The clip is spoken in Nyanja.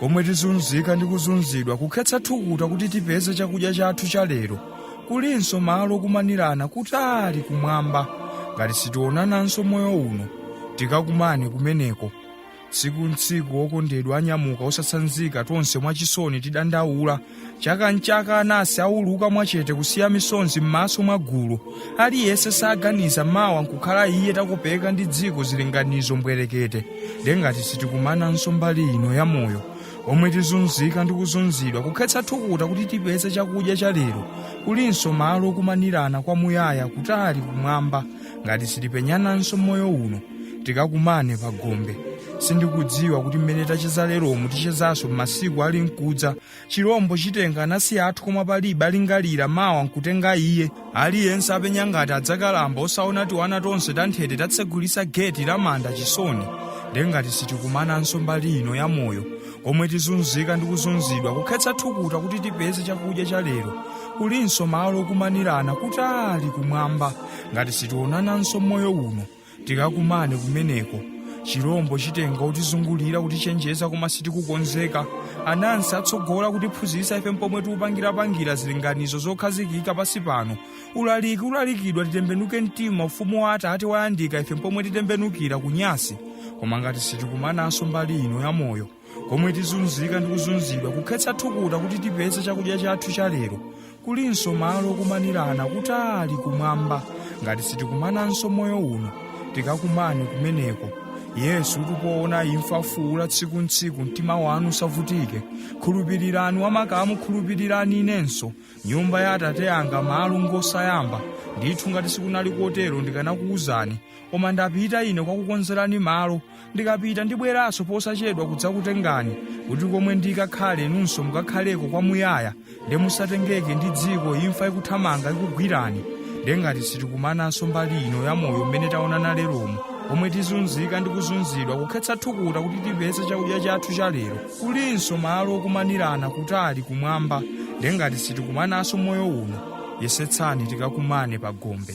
komwe tizunzika ndi kuzunzidwa kukhetsa thukuta kuti tipeze chakudya chathu cha lero kulinso malo okumanirana kutali kumwamba ngati sitionananso moyo uno tikakumane kumeneko tsiku ntsiku okondedwa anyamuka osatsanzika tonse mwachisoni tidandaula chaka nchaka anasi auluka mwachete kusiya misonzi m'maso mwa gulu aliyense saganiza mawa nkukhala iye takopeka ndi dziko zilinganizo mbwerekete nde ngati sitikumananso mbali ino ya moyo omwe tizunzika ndi kuzunzidwa kukhetsa thukuta kuti tipeze chakudya cha lero kulinso malo okumanirana kwamuyaya kutali kumwamba ngati sitipenyananso moyo uno tikakumane pa gombe sindikudziwa kuti mmene tacheza leromu tichezanso m'masiku ali mkudza chilombo chitenga anansi athu koma palibe alingalira mawa nkutenga iye aliyense apenya ngati adzakalamba osaona tiwana tonse tanthete tatsegulisa geti la manda chisoni nde ngati sitikumananso mbali ino ya moyo komwe tizunzika ndi kuzunzidwa kukhetsa thukuta kuti tipeze chakudya cha lero kulinso malo okumanirana kutali kumwamba ngati sitionananso moyo uno tikakumane kumeneko chilombo chitenga utizungulira kutichenjeza koma sitikukonzeka anansi atsogola kutiphunzitsa ife mpomwe tiupangirapangira zilinganizo zokhazikika pansi pano ulaliki ulalikidwa titembenuke mtima ufumu wa atate wayandika ife mpomwe titembenukira kunyasi koma ngati sitikumananso mbali ino ya moyo komwe tizunzika ndi kuzunzidwa kukhetsa thukuta kuti tipeze chakudya chathu cha lero kulinso malo okumanirana kutali kumwamba ngati sitikumananso moyo uno tikakumane kumeneko yesu tipoona imfa fuula tsiku ntsiku mtima wanu usavutike khulupirirani wamakamu khulupirirani inenso nyumba ya atate anga malo ngosayamba ndithu ngati sikunali kotero ndikanakuwuzani koma ndapita ine kwakukonzerani malo ndikapita ndibweranso posachedwa kudzakutengani kuti komwe ndikakhale inunso mukakhaleko kwamuyaya nde musatengeke ndi dziko imfa ikuthamanga ikugwirani nde ngati sitikumananso mbali ino ya moyo mmene taonana leromu komwe tizunzika ndi kuzunzidwa kukhetsa thukuta kuti tipeze chakudya chathu cha lero kulinso malo okumanirana kutali kumwamba nde ngati sitikumananso moyo uno yesetsani tikakumane pa gombe